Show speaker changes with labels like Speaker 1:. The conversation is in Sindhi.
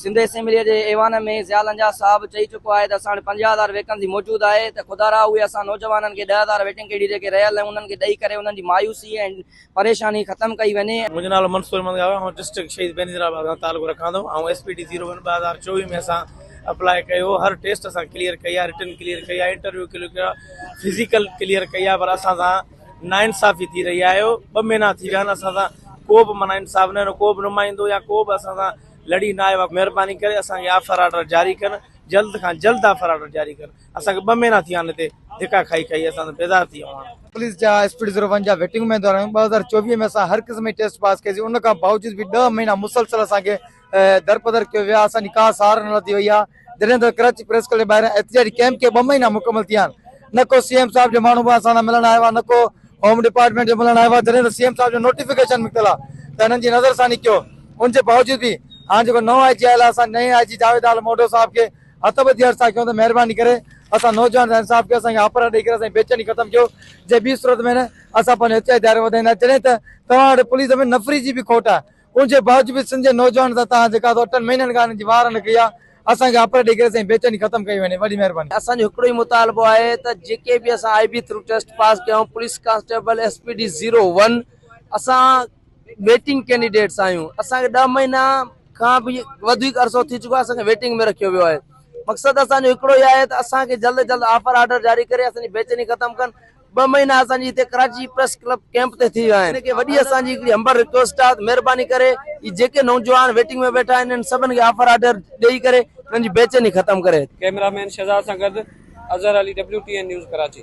Speaker 1: سنڌ اسيمبليء جي ايوان ۾ ضياء لنجاء صاحب چئي چڪو آهي ته اسان وٽ پنجاهه هزار ويڪنسي موجود آهي ته خدا رحا اهي اسان نوجوانن کي ڏهه هزار ويٽنگ ڪريڊٽ جيڪي رهيل آهن انهن کي ڏئي ڪري انهن جي مايوسي ۽ پريشاني ختم ڪئي وڃي. منهنجو نالو منصور احمد گاهو
Speaker 2: آهي آئون ڊسٽرڪٽ شهيد بينظير آباد سان تعلق رکان ٿو آئون S P T zero one ٻه هزار چوويهه ۾ اسان اپلاء ڪيو هو هر ٽيسٽ اسان ڪليئر ڪئي آهي رٽن ڪليئر ڪئي آهي انٽرويو ڪليئر ڪيو آهي فزيڪل ڪليئر ڪئي آهي پر اسان سان ناانصافي ٿي رهي آهي ٻه مهينا ٿي ويا آهن اسان سان ڪو به معنيٰ انصاف نه ڪو به نمائندو يا ڪو به اسان سان لڙي نه آيو آهي مهرباني ڪري اسان کي آفر آرڊر جاري ڪن جلد کان جلد آفر آرڊر جاري ڪن اسان کي ٻه مهينا ٿي ويا آهن هتي ڌڪا کائي کائي اسان ته بيزار ٿي ويا آهيون هاڻي. پوليس جا اسپيڊ زيرو
Speaker 3: ون جا ويٽنگ ۾ دوران ٻه هزار چوويهه ۾ اسان هر قسم جي ٽيسٽ پاس ڪئي سي ان کان باوجود به ڏهه مهينا مسلسل اسان کي درپدر ڪيو ويو آهي، اسان جي ڪا سار نه لڌي وئي آهي، جڏهن ته ڪراچي پريس ڪلب جي ٻاهران احتجاجي ڪيمپ کي ٻه مهينا مڪمل ٿيا آهن، نه ڪو سي ايم صاحب جا ماڻهو به اسان سان ملڻ آيو آهي نه ڪو هوم ڊپارٽمينٽ جو ملڻ آيو آهي، جڏهن ته سي ايم صاحب جو نوٽيفڪيشن نڪتل آهي ته هنن جي نظرثاني ڪيو، ان جي باوجود به هاڻ جيڪو نئون آء جي آيل آهي اسان نئين آء جي جاويد عالم اوڍو صاحب کي هٿ ٻڌي عرض ٿا ڪيون ته مهرباني ڪري اسان نوجوان سان انصاف ڪيو، اسان کي آپرا ڏئي ڪري اسان جي بيچيني ختم ڪيو، جي ٻي صورت ۾ نه اسان پنهنجو احتجاجي دائرو وڌائيندا جڏهن ته توهان وٽ پوليس ۾ نفري جي به کوٽ آهي. ان جي باوجود سنڌ جي نوجوانن سان توهان جيڪا ٿو اٺن مهينن کان هنن جي واهر نه ڪئي آهي اسان کي آپريٽ ڏئي ڪري سائين بيچيني ختم ڪئي وڃي وڏي مهرباني. اسان جو هڪڙو ئي مطالبو
Speaker 1: آهي ته جيڪي به اسان I B through test pass ڪيا آهيون police constable S P D zero one اسان ويٽنگ ڪينڊيڊيٽس آهيون اسان کي ڏهه مهينا کان به وڌيڪ عرصو ٿي چڪو آهي اسان کي ويٽنگ ۾ رکيو ويو آهي مقصد اسان جو هڪڙو ئي آهي ته اسان کي جلد جلد آفر آرڊر جاري ڪري اسان جي بيچيني ختم ڪن ٻه مهينا اسان جي هتي ڪراچي پريس ڪلب ڪيمپ تي ٿي ويا آهن ان کي وڏي اسان جي هڪڙي همبر رڪويسٽ آهي ته مهرباني ڪري هي جيڪي نوجوان ويٽنگ ۾ ويٺا آهن انهن سڀن کي آفر آرڊر ڏئي ڪري انهن جي بيچيني
Speaker 4: ختم
Speaker 1: ڪري. ڪئميرا
Speaker 4: مين شھزاد
Speaker 1: سان
Speaker 4: گڏ Azhar Ali
Speaker 1: W
Speaker 4: T N
Speaker 1: news
Speaker 4: Karachi.